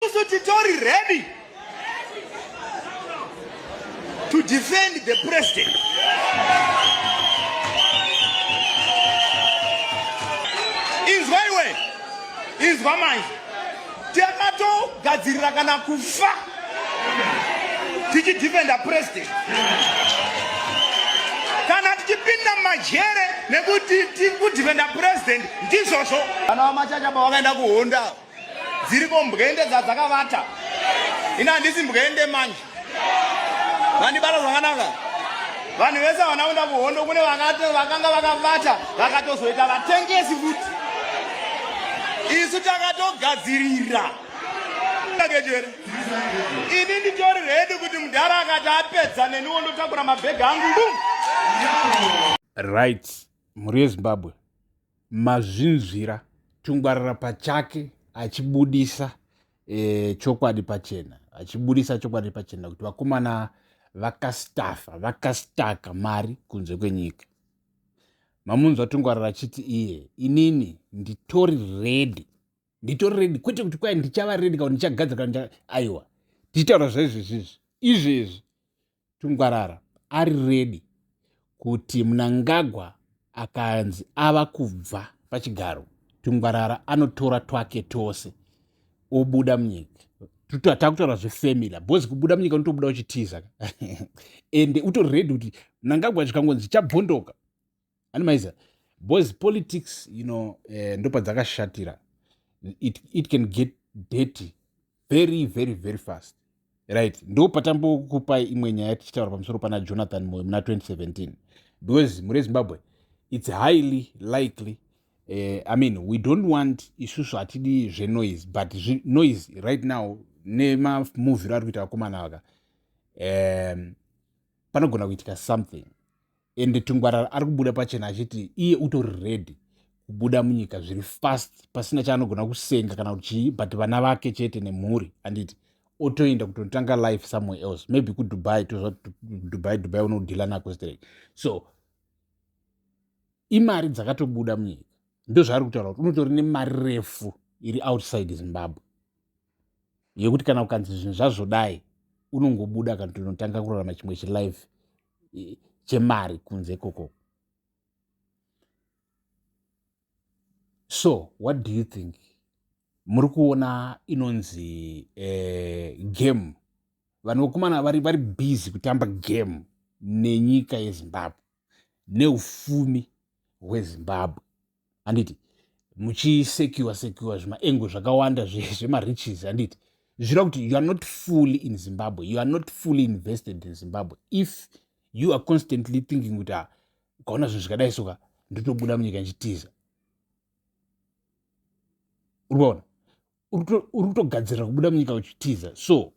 Isu titori ready to defend the president. Inzwa iwe, inzwa manje. Takatogadzirira kana kufa tichidefenda president kana tichipinda majere nekuti tikudefenda president ndizvozvo. Kana wamachachaba wakaenda kuhonda dziriko mbwende dzadzakavata ini handisi mbwende manje vandibata zvakanaka vanhu vese havana kuenda kuhondo kune vakanga vakavata vakatozoita vatengesi futi isu takatogadzirira kejere ini nditori redi kuti mudhara akati apedza neniwo ndotakura mabhegi angu right mhuri yezimbabwe mazvinzwira tungwarara pachake achibudisa e, chokwadi pachena achibudisa chokwadi pachena kuti vakomana vakastafa vakastaka mari kunze kwenyika mamunzwa tungwarara achiti iye inini nditori redi nditori redi kwete kuti kwai ndichava redi kana ndichagadzira kana aiwa tichitaura zvaizvezvizvi izvezvi tungwarara ari ready kuti munangagwa akanzi ava kubva pachigaro tungwarara anotora twake tose obuda munyika takutaura zvefamily bhozi kubuda munyika unotobuda uchitiza ende utori redi kuti mnangagwa chikangonzi chabvondoka animaiza boys politics you know eh, ndopadzakashatira it, it can get dirty very very very fast right ndo patambokupai imwe nyaya tichitaura pamusoro pana jonathan moyo muna 2017 because mure zimbabwe it's highly likely uh, i mean we don't want isusu hatidi zvenoise but noise right now nemamuviro ari kuita vakomana vaka um, panogona kuitika something ende tungwarara ari kubuda pachena achiti iye utori ready kubuda munyika zviri fast pasina chaanogona kusenga kana kuti chii but vana vake chete nemhuri handiti otoenda kutotanga life somewhere else maybe kudubai tozva dubai dubai unodhila nako straight so imari dzakatobuda munyika ndozvaari kutaura kuti unotori nemari refu iri outside zimbabwe yekuti kana ukanzi zvinhu zvazvodai unongobuda kana kuti unotanga kurarama chimwe chilife chemari kunze koko so what do you think muri kuona inonzi eh, game vanhu vokumana vari, vari busy kutamba game nenyika yezimbabwe neufumi hwezimbabwe handiti muchisecure secure zvimaengo zvakawanda zvemariches handiti zvireva kuti you are not fully in zimbabwe you are not fully invested in zimbabwe if you are constantly thinking kuti ah, ukaona zvinhu zvakadai soka ndotobuda munyika ndichitiza urikuona uri kutogadzirira kubuda munyika uchitiza so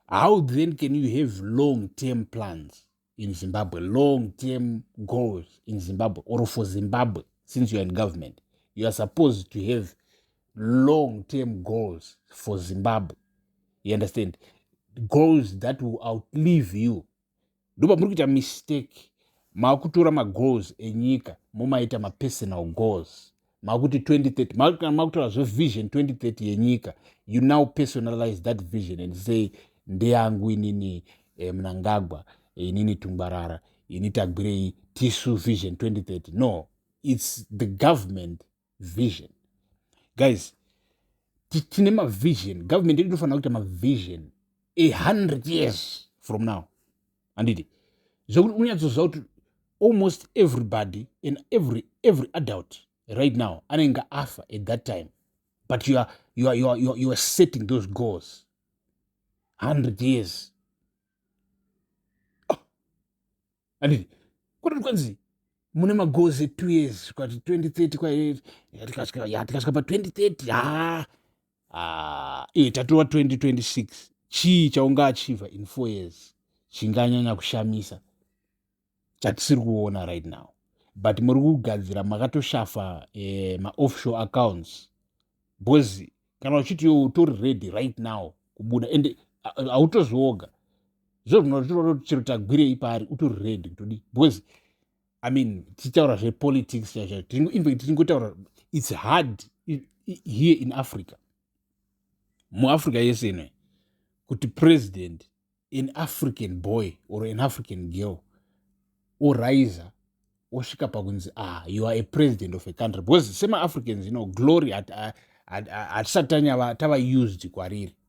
how then can you have long term plans in zimbabwe long term goals in zimbabwe or for zimbabwe since youare in government you are supposed to have long term goals for zimbabwe you understand goals that will outlive you ndopa muri kuita mistake maakutora magoals enyika mumaita mapersonal goals makuti 2030 makana makutaura zvevision 2030 yenyika you now personalize that vision and say ndeyangu inini eh, mnangagwa eh, inini tungwarara ini tagwirei tisu vision 2030 no its the government vision guys tine mavision government yedu inofanira kuita mavision a 100 years from now handiti zvekuti unyatsozva kuti almost everybody and every, every adult right now anenge afa at that time but you are, you are, you are, you are, you are setting those goals 100 years handiti oh. kuti kwanzi mune magozi two years kwati 2030 kwayatikasvika pa 2030 haa ah, iwe tatova 2026 chii chaunga achiva in four years chinganyanya kushamisa chatisiri kuona right now but muri kugadzira makatoshafa eh, maoffshore accounts bcause kana uchiti yo utori ready right now kubuda ende hautozvioga zvo zvinotochero tagwirei paari utori ready kutodi bcause i mean tichitaura zvepolitics chaizvo infact tichingotaura its hard here in africa muafrica yese inoe kuti president an african boy or an african girl oriser osvika pakunzi ah you are a president of a country because semaafricans you know glory hatisati tava used kwariri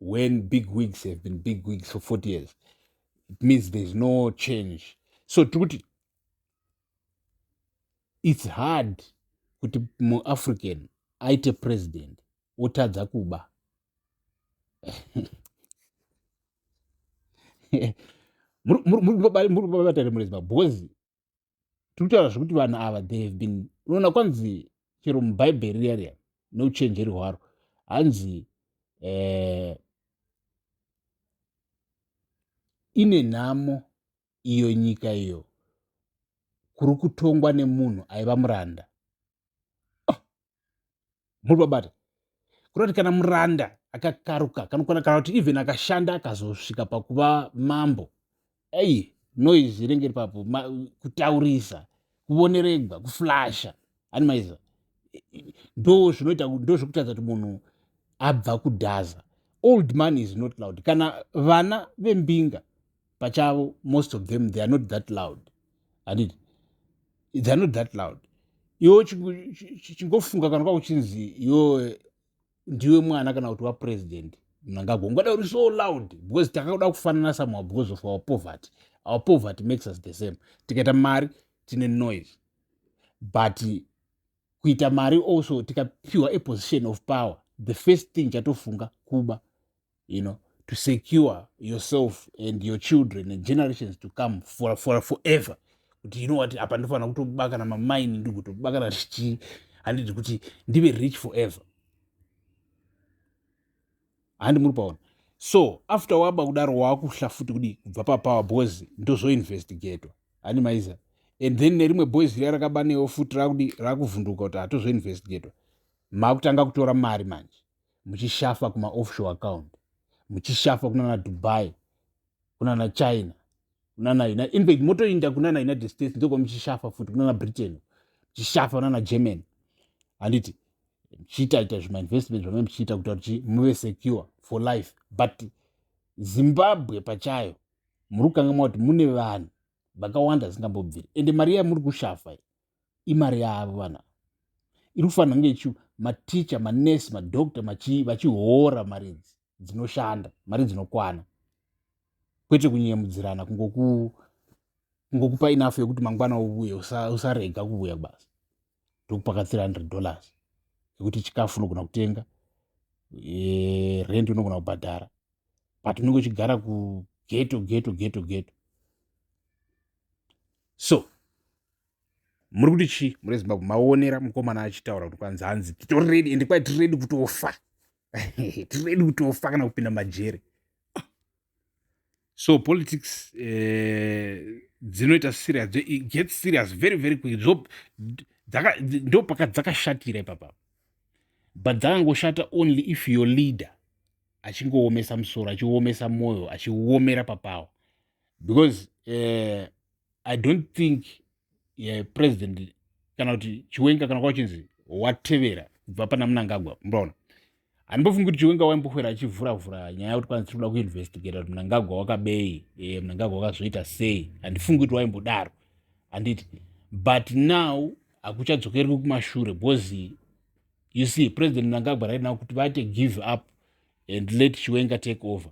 when big wigs have been big wigs for 40 years it means there's no change so tiri kuti it's hard kuti muafrican aite president otadza kuba muri kubatare murezi because tiri kutaura zvekuti vanhu ava they have been unoona kwanzi chero mubhaibheri riya riya neuchenjeri hwaro hanzi eh, ine nhamo iyo nyika iyo kuri kutongwa nemunhu aiva muranda muri babata kureva kuti kana muranda akakaruka kanokwana kana kuti even akashanda akazosvika pakuva mambo ei noise inenge iri papo kutaurisa kuvoneregwa kuflasha ani maiza ndo zvinoita ndo zvekutadza kuti munhu abva kudhaza old money is not loud kana vana vembinga pachavo most of them they are not that loud handiti they are not that loud iwo chingofunga kana kwa kuchinzi iwo ndiwe mwana kana kuti wapresident mnangagwa ungada uri so loud because takakuda kufanana somehow because of our poverty our poverty makes us the same tikaita mari tine noise but kuita mari also tikapiwa aposition of power the first thing chatofunga kuba you know to secure yourself and your children and generations to come for, for forever kuti you know what apa ndofanira kutobakana mamaini ndigotobakana zvichii handidi kuti ndive rich forever handi muri paona so after waba kudaro waakuhla futi kudi kubva papower boys ndozoinvestigatwa handi maiza and then nerimwe boys riya rakabanewo futi rakudi rakuvhunduka kuti hatozoinvestigatwa makutanga kutora mari manje muchishafa kuma offshore account muchishafa kunana dubai kunana china kunana united in fact motoinda kunana united states ndokwa muchishafa futi kunana britain muchishafa kunana germany handiti muchiitaita zvimainvestment zvamai muchiita kuta kuti muve secure for life but zimbabwe pachayo muri kukanga mwa kuti mune vanhu vakawanda zingambobviri ende mari yamuri kushafa imari yavo vanhu ava iri kufanira kunge ichi maticha manurse madoctor machii vachihoora mari idzi dzinoshanda mari dzinokwana kwete kunyemudzirana kungoku kungokupa enough yekuti mangwana uvuye usarega kuvuya kubasa ndokupa ka 300 dollars yekuti chikafu unogona kutenga e, rent unogona kubhadhara but unenge uchigara kugeto geto geto geto so muri kuti chii muri ezimbabwe maonera mukomana achitaura kuti kwanzi hanzi titoredi ende kwai tiredi kutofa tiredi kutofa kana kupinda majere so politics eh, dzinoita serious get serious very very quick ndo paka dzakashatira ipapa but dzakangoshata only if your leader achingoomesa musoro achiomesa mwoyo achiomera papawo because eh, i don't think uh, president kana kuti chiwenga kana kwachinzi watevera kubva pana munangagwa mbaona handimbofungi kuti chiwenga waimbokwera achivhura vhura nyaya yekuti kwanzi tiri kuda kuinvestigata kuti munangagwa wakabei e, munangagwa wakazoita sei handifungi kuti waimbodaro handiti but now hakuchadzokerwi kumashure because you see president munangagwa right now kuti vate give up and let chiwenga take over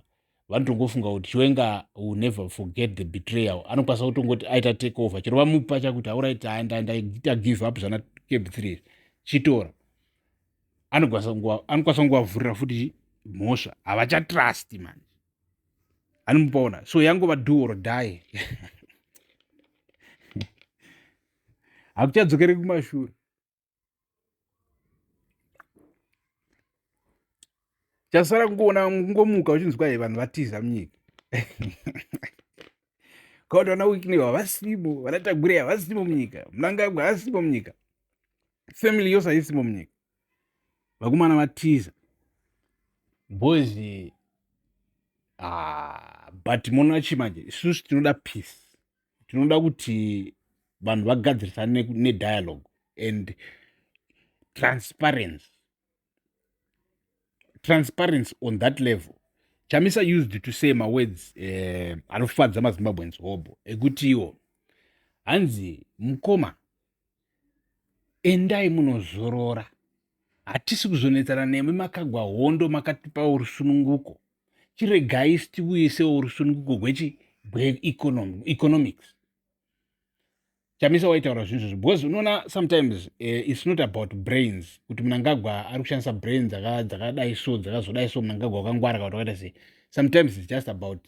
vanotongofunga kuti chiwenga will never forget the betrayal anokwanisa kutongoti aita take over chero vamupa chakuti auraiti andaita give up zvana cab three chitora anokwanisa kunguvavhurira futi mhosva havachatrust manje anomupaona so yangova do or die hakuchadzokere kumashure chasara kungoona kungomuka uchinzwa ye vanhu vatiza munyika kakuti vana wikney havasimo vana tagure havasimo munyika mnangagwa havasimo munyika family yose haisimo munyika vakomana vatiza boys ah, but monachimanje isusu tinoda peace tinoda kuti vanhu vagadzirisane nedialogue and transparency transparency on that level chamisa used to say mawords eh, anofadza mazimbabweans hobho ekutiwo hanzi mukoma endai munozorora hatisi kuzonetsana nemi makagwa hondo makatipa urusununguko chiregai sitiuisewo urusununguko hwechi hweeconomics chamisa waitaura zvinhu zvozvo because unoona sometimes uh, its not about brains kuti munangagwa ari kushandisa brain dzakadai so dzakazodai so munangagwa wakangwara kawati wakaita sei sometimes its just about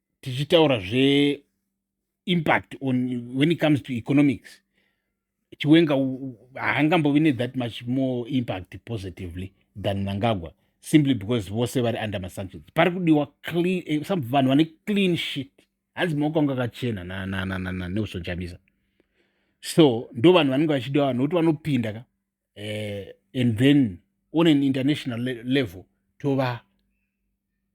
tichitaura zveimpact on when it comes to economics chiwenga haangambovi nethat much more impact positively than mangagwa simply because vose vari under masanctions pari kudiwa eh, some vanhu vane clean shit hanzi maoko anga akachena neusonjamisa so ndo vanhu vanenge vachidiwa nokuti vanopinda ka uh, and then on an international le level tova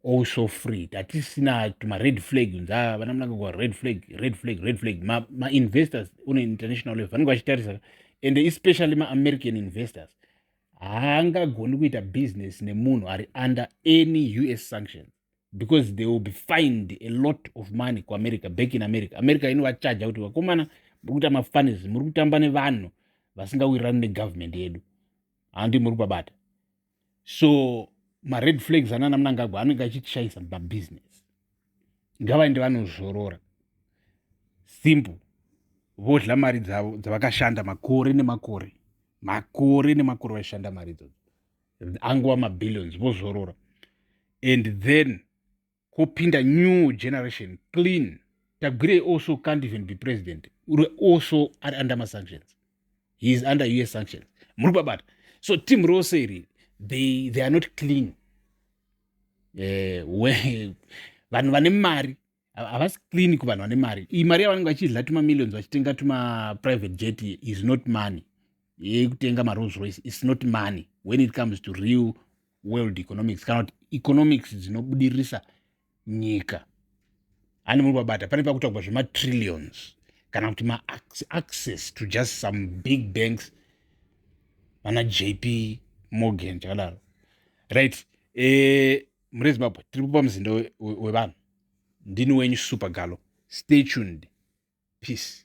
also free tatisina tumared flag unza ah, vana munangagwa red flag red flag red flag mainvestors ma on an international level vanenge vachitarisa and especially maamerican investors haangagoni kuita business nemunhu ari under any us sanctions because they will be fined a lot of money kuamerica back in america america inovachaja kuti vakomana muri kuita mafanis muri kutamba nevanhu vasingawirirani negovernment yedu handi muri kubabata so mared flags anana munangagwa anenge achitishayisa mabusiness ngavaende vanozorora simple vodla mari dzavo dzavakashanda makore nemakore makore nemakore vaishanda mari idzodzo angova mabillions vozorora and then kopinda new generation clean tagwirei also can't even be president uri also ari under masanctions he is under us sanctions muri kubabata so team rose iri they, they are not clean eh, vanhu vane mari havasi clean kuvanhu vane mari iyi mari yavanenge vachidla tuma millions vachitenga tuma private jet is not money yekutenga marolls royce is not money when it comes to real world economics kana kuti economics dzinobudirisa nyika handi muri kubabata pane pakutaurwa zvematrillions kana kuti maaccess to just some big banks vana jp morgan chakadaro right eh, mhuri yezimbabwe tiri kupa muzinda wevanhu ndini wenyu super galo stay tuned peace